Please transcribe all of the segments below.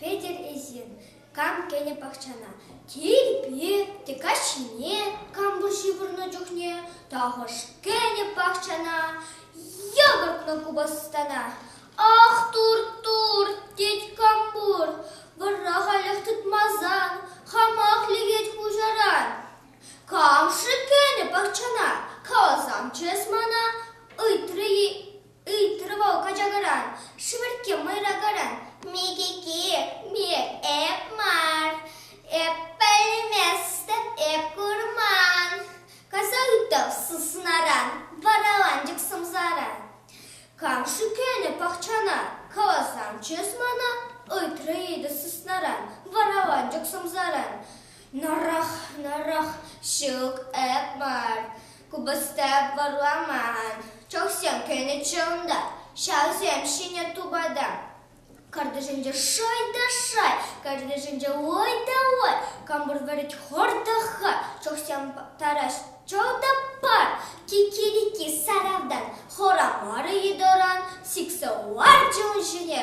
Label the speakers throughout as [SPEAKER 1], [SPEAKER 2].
[SPEAKER 1] Петӗр эсир кам кӗнӗ пахчана? Тирпи те каҫне кампӑл ҫывӑрнӑ чухне тахӑш кӗнӗ пахчана йӑкӑртнӑ купӑстана. Ах, турт, турт, тет Кампур, вӑрах аллах тытмасан, хамах лекет хуҫаран. Кам-ши кӗнӗ пахчана? каласан чыс мана ыйтрӗ вӑл качакаран, шӗвӗркке мӑйракаран. Микики, эп мар, эп пӗлместӗп, эп курман, каласа ыйтрӗ сыснаран, вараланчӑк сӑмсаран. Кам-ши кӗнӗ пахчана? каласан чыс мана ыйтрӗ йытӑ сыснаран, вараланчӑк сӑмсаран. Нӑрӑх, нӑрӑх, ҫук, эп мар, купӑста варламан, чӑхсем кӗнӗччӗ унта, ҫавсем ҫӗнӗ тупата. Картишӗнче шай та шай, картишӗнче ой та ой, кампур вӗрет хӑртӑха, чӑхсем тарас чӑл та пар, кикирики саравдан, хора мары йытӑран, сиксе ларчӗ ун ҫине,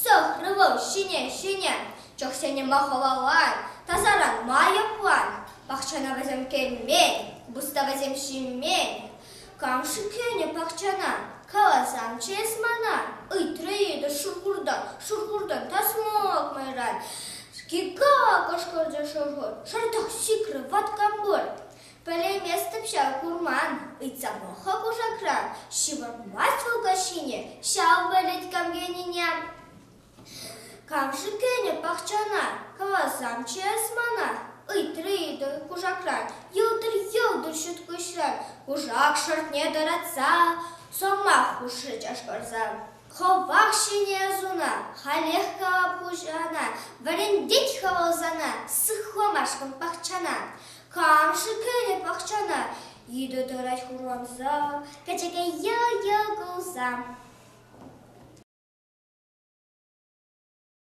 [SPEAKER 1] сӑхрӗ вӑл ҫине-ҫине. Чӑхсенӗ хӑвалан, тасаран ма йӑплан? Пахчана вӗсем кӗмен, буста вӗсем ҫимен. Кам шикленӗ пахчана? Каласан чес мана. Ыйтрӗ йытӑ шӑхуртан, шӑхуртан тасмак майран. Кика! кӑшкӑрчӗ шӑхур. Шӑртах сикрӗ ваткампур. Пӗлейместӗп ҫав курман, ыйтса пӑх-ха кушакран. Ҫывӑрмасть вӑл каҫхине ҫав пӗлӗт кам тенине. Кам-ши кӗнӗ пахчана? Каласамччӗ эс мана, ыйтрӗ Итӑр кушакран, йӑлтӑр-йӑлтӑр ҫуткуҫран кушак шӑртне тӑратса. Сӑмах хушрӗ чашкӑрса. Хӑвах ҫӗнӗ ӑсуна, халех калап хуҫана, вӗрентет хӑвӑл сана сыхламашкӑн пахчана. Кам-ши кӗнӗ пахчана йытӑ тӑрать хурланса, пӗчӗке йӑл-йӑл кулса?